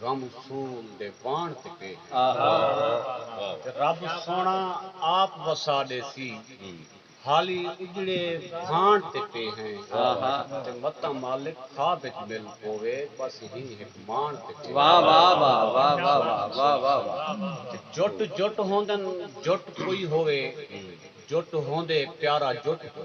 غم خون دے واݨ تے پئے ہیں۔ تے رب سوہݨا آپ وسا ݙیسی۔ حالی اجڑے بھاݨ تے پئے ہیں۔ تے متاں مالک خواب اچ مل پووے بس ہی ہک ماݨ تے پئے ہیں۔ تے جٹ جٹ ہوندن جٹ کوئی ہووے جٹ ہوندے پیارا جٹ کوں۔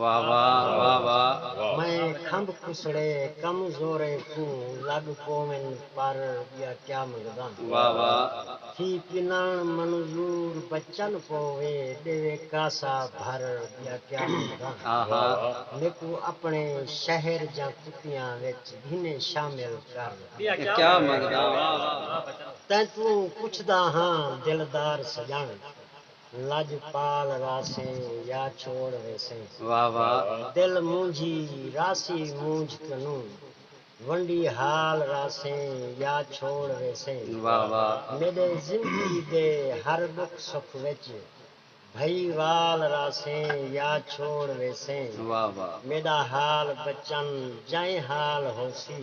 واہ واہ واہ واہ۔ میں کھمب کھسڑے کم زوریں کوں لگ پوون پر بیا کیا منگداں۔ واہ واہ۔ تھی پنان منظور بچن پووے ڈیوے کاسا بھر بیا کیا منگداں۔ آہا۔ میکو اپنے شہر جاں کتیاں وچ گھنے شامل کر۔ بیا کیا منگداں۔ تیں توں پچھدا ہاں دلدار سجن۔ لجپال راسے یا چھوڑ ویسے۔ واہ واہ۔ دل مونجھی راسی مونجھ کنوں۔ ونڈی حال راسے یا چھوڑ ویسے۔ واہ واہ۔ میڈے زندگی دے ہر ڈکھ سکھ وچ۔ بھئی وال راسے یا چھوڑ ویسے۔ واہ واہ۔ میڈا حال بچن جائیں حال ہوسی۔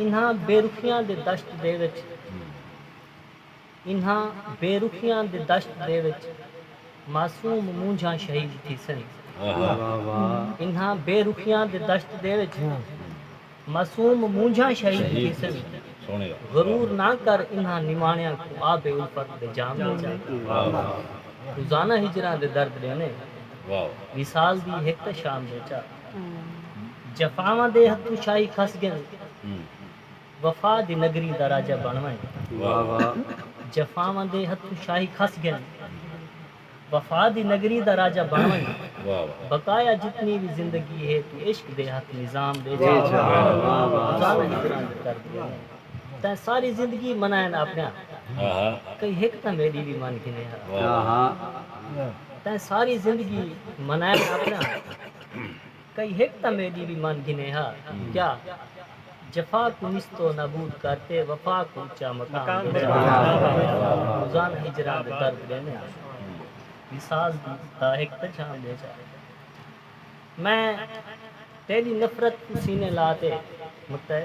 انہاں بے رخیاں دے دشت دے وچ انہاں بے رخیاں دے دشت دے وچ معصوم مونجھاں شہید تھیسن انہاں بے رخیاں دے دشت دے وچ معصوم مونجھاں شہید تھیسن غرور نہ کر انہاں نماݨیاں کوں آب الفت دے جام وچ روزانہ ہجراں دے درد ݙیندے وصال دی ہک تاں شام وچ آ۔ جفاواں دے ہتھوں شاہی کھس ڳن وفا دی نگری دا راجہ بݨ ونڄ جفاواں دے ہتھوں شاہی کھس ڳن وفا دی نگری دا راجہ بݨ ونڄ بقایا جتنی وی زندگی ہے توں عشق دے ہتھ نظام ݙے چھا ظالم اتنا جو کر ڳئے نے تیں ساری زندگی منائن آپݨیاں کئی ہک تاں میݙی وی من گھنے ہا۔ تیں ساری زندگی منائے ناپڑاں کئی ہک تاں میڈی وی من گھنے ہا کیا جفا کوں نستو نابود کر تے وفا کوں اچا مقام دے روزانہ ہجراں دے درد ڈیندے ہاں وصال دی داہک تاں جھام دے جا میں تیڈی نفرت کوں سینے لا تے متعے۔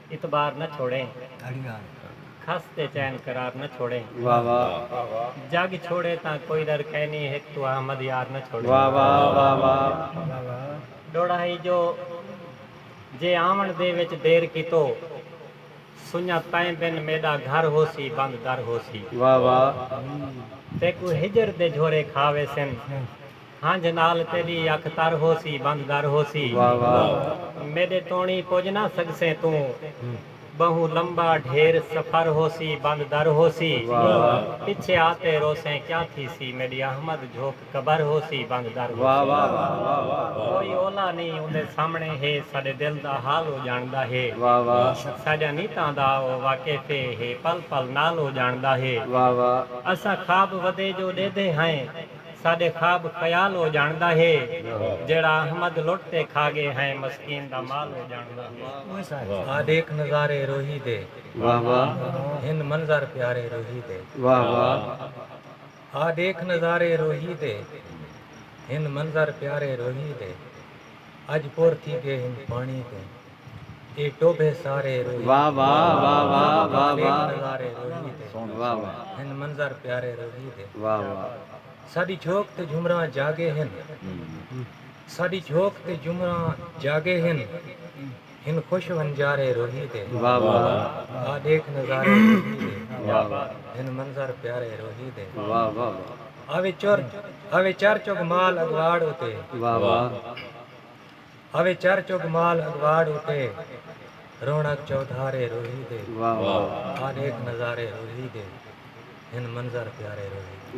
اعتبار نہ چھوڑیں۔ گھڑیاں۔ کھس تے چین قرار نہ چھوڑیں۔ واہ واہ۔ جگ چھوڑے تاں کوئی ڈر کینی ہک توں احمد یار نہ چھوڑیں۔ واہ واہ واہ واہ۔ ڈوڑا ہئی جو جے آون دے وچ دیر کیتو سنڄاں تیں بن میݙا گھر ہوسی بند در ہوسی۔ واہ واہ۔ تیکوں ہجر دے جھورے کھا ویسن۔ ہنجھ نال تیڈی اکھ تر ہوسی بند در ہوسی میڈے توڑیں پج نہ سگسیں توں بہوں لمبا ڈھیر سفر ہوسی بند در ہوسی پچھے آتے روسیں کیا تھیسی میڈی احمد جھوک قبر ہوسی بند در ہوسی کوئی اولا نی اوندے سامنے ہے ساڈے دل دا حال او جاندا ہے ساڈیاں نیتاں دا او واقف ہے ہے پل پل نال او جاندا ہے اساں خواب ودے جو ڈیدھے ہائیں۔ ساڈے خواب خیال او جانڑدا ہے جیڑھا احمد لٹ تے کھا گئے ہیں مسکین دا مال او جانڑدا ہے۔ آ ڈیکھ نظارے روہی دے ہن منظر پیارے روہی دے۔ آ ڈیکھ نظارے روہی دے ہن منظر پیارے روہی دے۔ اج پور تھی گئے ہن پانڑی توں۔ اے ٹوبھے سارے روہی تے۔ والے او نظارے روہی تے۔ ہن منظر پیارے روہی تے۔ ساݙی جھوک تے جھمراں جاڳے ہن۔ ساݙی جھوک تے جھمراں جاڳے ہن۔ ہن خوش ونجارے روہی تے۔ آ ݙیکھ نظارے روہی تے۔ ہن منظر پیارے روہی تے۔ آوے چر چگ مال اڳواڑ اتے۔ اوے چر چگ مال اگواڑ اتے رونق چودھارے روہی دے آ ڈیکھ نظارے روہی دے ہن منظر پیارے روہی دے۔